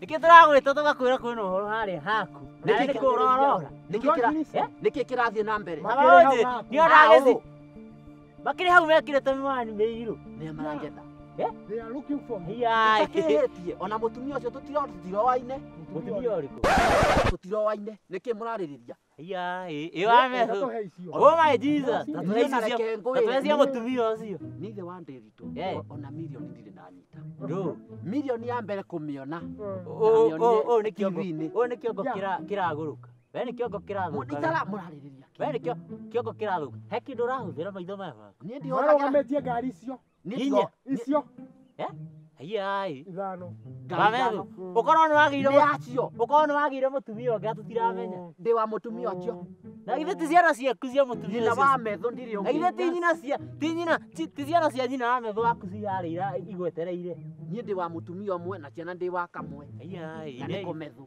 Nĩkĩ tũragwĩta tũgakwĩra kwĩna ũhoro harĩa haku. Na Nĩkĩ nĩ kĩu ũrorora. Nĩkĩ kĩra- nĩkĩ kĩrathiĩ na mbere Baba wanjĩ, nĩ ona Hau. agĩthi. Makĩrĩ hau mekĩrĩte miwani mĩirũ. nĩa marangeta They are looking for me. Iyai. takĩhĩtie ona mũtumia ũcio tũtiro- tũtiroaine Mũtumia ũrĩkũ? tũtiroaine nĩkĩ mũrarĩrĩria Yaĩ, ĩyo ameso. Ndakũhe icio. Oh my Jesus. Irio na Tatuhecia reke ngũĩre. tatuhecia mũtumia ũcio. Nĩ ithe wa Ndĩritũ. Eh. O- Ona mirioni ndirĩ ndanyita. Ndũ. Mirioni ya mbere kũmĩona. Ũũ ũũ ũũ nĩ kĩongo. TV-inĩ. Ũũ nĩ kĩongo Ya. kĩra- kĩragũrũka. We nĩ kĩongo kĩrathũka. Itara mũrarĩrĩria. We nĩ kĩo- kĩongo kĩrathũka. He kĩndũ ũrahũthĩra maitho maya maku. Niĩ ndihũthagĩra. Marũgamĩtie ngari icio. Inya. icio Eh? Ayai. ithano Gamethu. Ukorwo ni wagire nĩ acio ukorwo ni wagire mutumia ungi atutiramenya. ndĩ wa mũtumia ũcio Na ithe ti ciana ciaku cia mutumia nyina ũcio. wa metho ndirĩ Na ithe ti ũngĩ nyina cia ti nyina ti ti ciana cia nyina wa metho waku ciarĩira igwetereire. niĩ ndĩ wa mũtumia ũmwe na ciana ndĩ wa kamwe Ayai. na nĩ kũmethu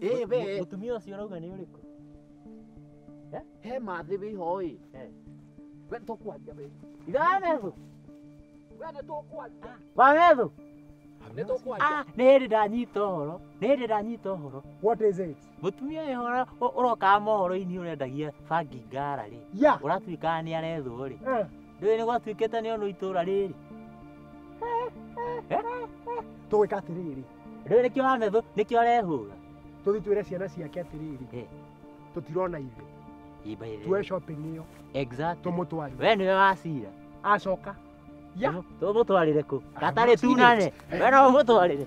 Ĩ we Mũtumia ũcio ũrauga nĩ ũrĩkũ? he mathĩ wĩ ho ĩ Eh. we tũkwaria we Iranethu, we nĩ tũkwaria wanethu. nĩ tũkwaria Ah, nĩ hĩndĩ ndanyita ũhoro, nĩ hĩndĩ ndanyita ũhoro. What is it? Mũtumia ũyũ ũra- ũ- ũrokaga mohoro-inĩ ũrendagia bangi ngara rĩ, Yeah. ũratuĩkaga nĩ arethwo rĩ. Eh. Ndũĩ nĩ gwatuĩkĩte nĩ onwo itũũra rĩrĩ. Tũgwĩka atĩrĩrĩ. Rĩu nĩkĩo wamethũ, nĩkĩo arehũga. Tũthi twĩre ciana ciake atĩrĩrĩ. Eh. Tũtirona ithe. Imba ithe. Tuwe shopping ĩyo. Exactly. Tũmũtwarire. We nĩwe wacira. Acoka. Ya. Tũmũtwarire kũ? Gatarĩ tunane. We no ũmũtwarire.